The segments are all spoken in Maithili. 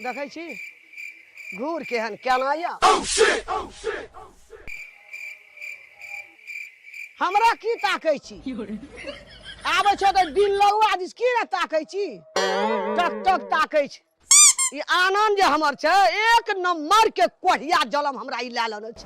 देखै छी घूर केहन केना यऽ हमरा की ताकै छी आबै छौ तऽ बिन लौआ दिस की ने ताकै छी टक टक ताकै छी ई आनन्द जे हमर छै एक नंबर के कोढ़िया जलम हमरा ई लए लेने छै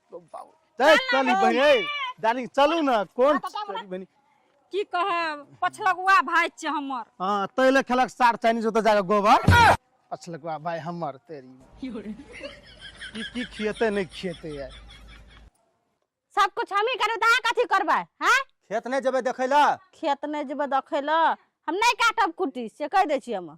चली बहिन डार्लिंग चलू ना कोन चली बहिन की कहे पछलगुआ भाई छे हमर हां तैले खेलक सार चाइनीज ओत जाके गोबर पछलगुआ भाई हमर तेरी की की खियते नहीं खियते यार सब कुछ हम ही करू ता कथी करबे हैं खेत नहीं जबे देखैला खेत नहीं जबे देखैला हम नहीं काटब कुटी से कह दे छी हम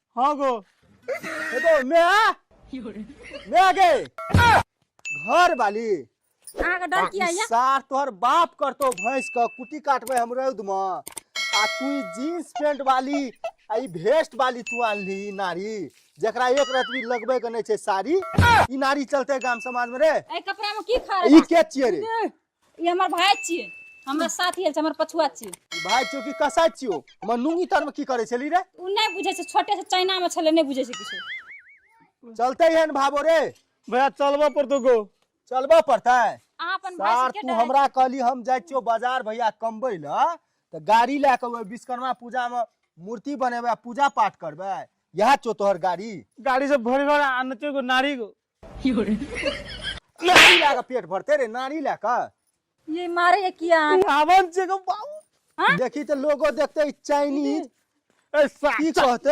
হ্যাঁ গো এ তো মেয়া মেয়া গে घर वाली अहाँ के डर किया ये सार तोहर बाप करतो भैंस का कुटी काटबे हम रौद में आ तू ई जीन्स पैंट वाली आ ई वेस्ट वाली तू आनली ई नारी जकरा एक रात भी लगबे के नहीं छै साड़ी ई नारी चलते गाम समाज में रे ए कपड़ा में की खा ई रहे के छिए रे ई हमर भाय छियै हमरा साथ आयल छै हमर पछुआ छियै भाय छियो कि कसाय छियो हमर नूंगी तर में की करे छली रे ओ नहि बुझै छै छोटे से चाइना में छलै नहि बुझै छै किछो चलते है ने भाबो रे भैया चलबऽ पड़तो गो चलबऽ पड़तै अहाँ अपन भाय सार से के तू डरै हमरा कहली हम जाइ छियो बाजार भैया कमबै लए तऽ गाड़ी लए कऽ ओहि विश्वकर्मा पूजा मे मूर्ति बनेबै आ पूजा पाठ करबै इएह छौ तोहर गाड़ी गाड़ी से भरि भर आनते गो नारी गो नारी लए कऽ पेट भरते रे नारी लए कऽ ये मारे है किया आवन छै गो बाबू हाँ? देखी तऽ लोगो देखते ई चाइनीज ए सा की कहते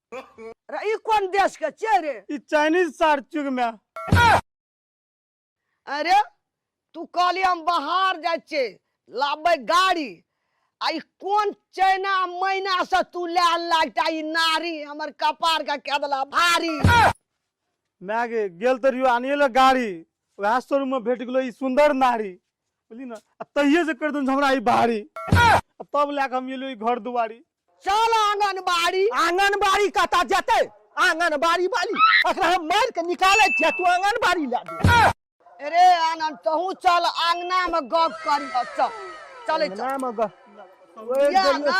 अरे ई कोन देश के छियै रे ई चाइनीज सार चुग में अरे तू कहली हम बाहर जाइ छियै लाबै गाड़ी आ ई कोन चाइना महीना से तू ले लागता ई नारी हमर कपार का कह देला भारी मैं गे गेल तो रियो आनिए ले गाड़ी वह शोरूम में भेट गेलो ई सुंदर नारी बोली ना आ तहिए से कर दूं हमरा ई भारी आ तब लाके हम एलो ई घर दुआरी चल आंगनबाड़ी आंगनबाड़ी कता जते आंगनबाड़ी वाली अगर हम मार के निकाले छिया तू आंगनबाड़ी ला दे अरे आनंद तहू चल आंगना में गप कर चल चले चल नाम अगर या ना